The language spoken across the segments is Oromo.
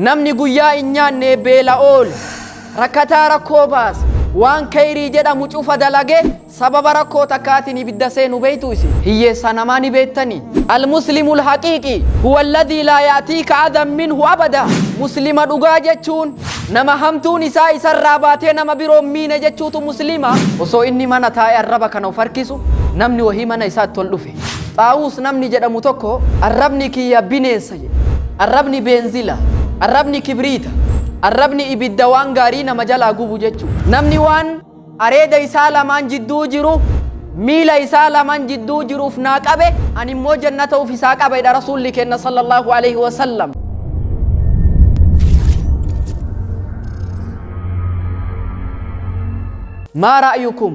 Namni guyyaa hin nyaanne beela oole, rakkataa rakkoo baase, waan keyrii jedhamu cufa dalage sababa rakkoo takkaatiin ibidda seenu beeytuu isin? Hiyyeessaa namaa ni beettanii? Al-Muslimu al-haqiiqi huwa alladhii laa ya'tiika adhan minhu abada Muslima dhugaa jechuun nama hamtuun isaa isarraa baatee nama biroo hin miine jechuutu Muslima. Osoo inni mana taa'ee arraba kana of harkisu namni wahii mana isaatti ol dhufe. Xaawuus namni jedhamu tokko arrabni kiyya bineensa. Arrabni beenzila. Arrabni kibriita. Arrabni ibidda waan gaarii nama jalaa gubu jechuudha. Namni waan areeda isaa lamaan jidduu jiru miila isaa laman jidduu jiruuf naa qabe ani immoo jannata uf isaa qaba jedha rasuulli kenna sallallahu alaihi wasallam. maa ra'yukum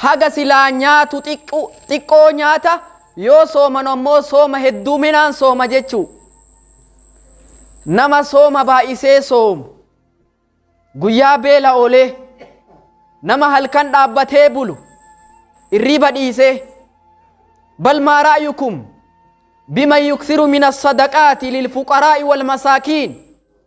haga silaa nyaatu xiqqu- xiqqoo nyaata yoo sooman ammoo sooma hedduuminaan sooma jechuu nama sooma baay'isee soomu guyyaa beela oolee nama halkan dhaabbatee bulu irriiba dhiisee bal maa ra'yukum biman yuksiru min assadaqaati lilfuqaraa'i walmasaakiin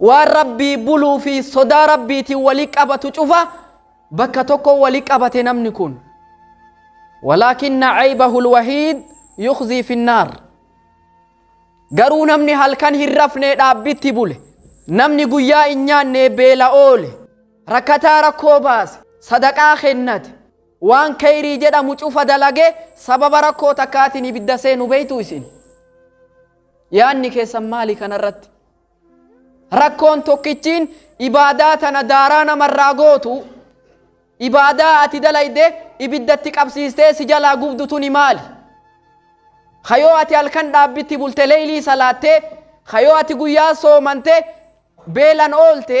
Waan Rabbii buluu fi sodaa Rabbiitiin wali qabatu cufa bakka tokko wali qabate namni kun. Walaakinna caybahul wahiid yukhzii finnaar. Garuu namni halkan hin rafnee dhaabbitti bule, namni guyyaa hin nyaannee beela oole, rakkataa rakkoo baase, sadaqaa kennate, waan kheyrii jedhamu cufa dalage sababa rakkoo takkaatiin ibidda seenu beeytu isin. Yaanni keessan maali kanarratti? Rakkoon tokkichiin ibaadaa tana daaraa namarraa gootu ibaadaa ati dalayde ibiddatti qabsiistee si jalaa gubdu tuni maali? Kayoo ati halkan dhaabbitti bulte leeylii salaattee kayoo ati guyyaa soomante beelan oolte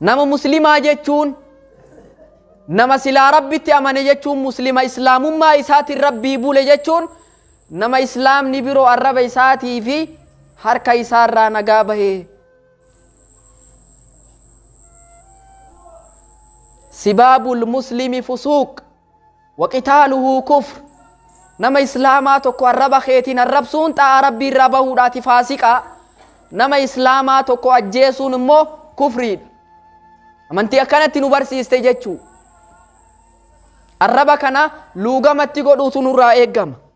Nama muslimaa jechuun nama silaa rabbitti amane jechuun muslima islaamummaa isaatiin rabbii bule jechuun nama islaamni biroo arraba isaatii fi harka isaarraa nagaa bahe. Sibaabul muslimi fusuuq waqitaaluhu kufr nama islaamaa tokko arraba keetiin arrabsuun xaa'aa rabbii irraa bahuudhaati faasiqa nama islaamaa tokko ajjeesuun immoo kufriidha amantii akkanatti nu barsiiste jechuu arraba kana luugamatti godhuutu nurraa eeggama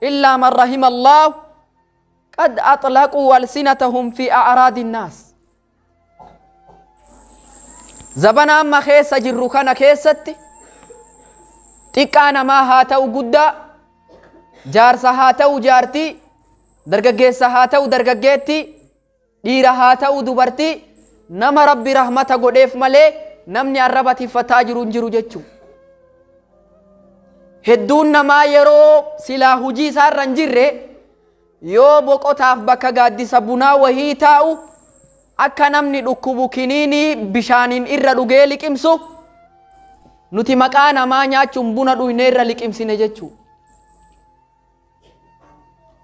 illaa man rahima allaahu qad axlaquu alsinatahum fi a'raadi nnaas zabana amma keessa jirru kana keessatti xiqqaa namaa haa ta'u guddaa jaarsa haa ta'u jaartii dargaggeessa haa ta'u dargaggeettii Dhiira haa ta'uu dubartii nama Rabbi rahmata godheef malee namni arraba tiffataa jiru hin jiru jechuu. Hedduun namaa yeroo silaa hujii isaarra hin jirre yoo boqotaaf bakka gaaddisa bunaa wahii taa'u akka namni dhukkubu kiniinii bishaaniin irra dhugee liqimsu nuti maqaa namaa nyaachuun buna dhuyne irra liqimsine jechuu.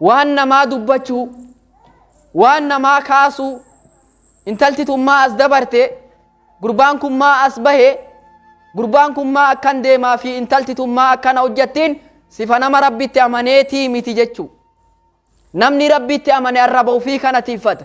waan namaa dubbachuu waan namaa kaasuu intalti tun maa as dabarte gurbaan kun maa as bahe gurbaan kun maa akkan deemaa fi intalti tun maa akkana hojjattiin sifa nama rabbitti amaneetii miti jechuu namni rabbitti amane arraba ofii kana tiiffata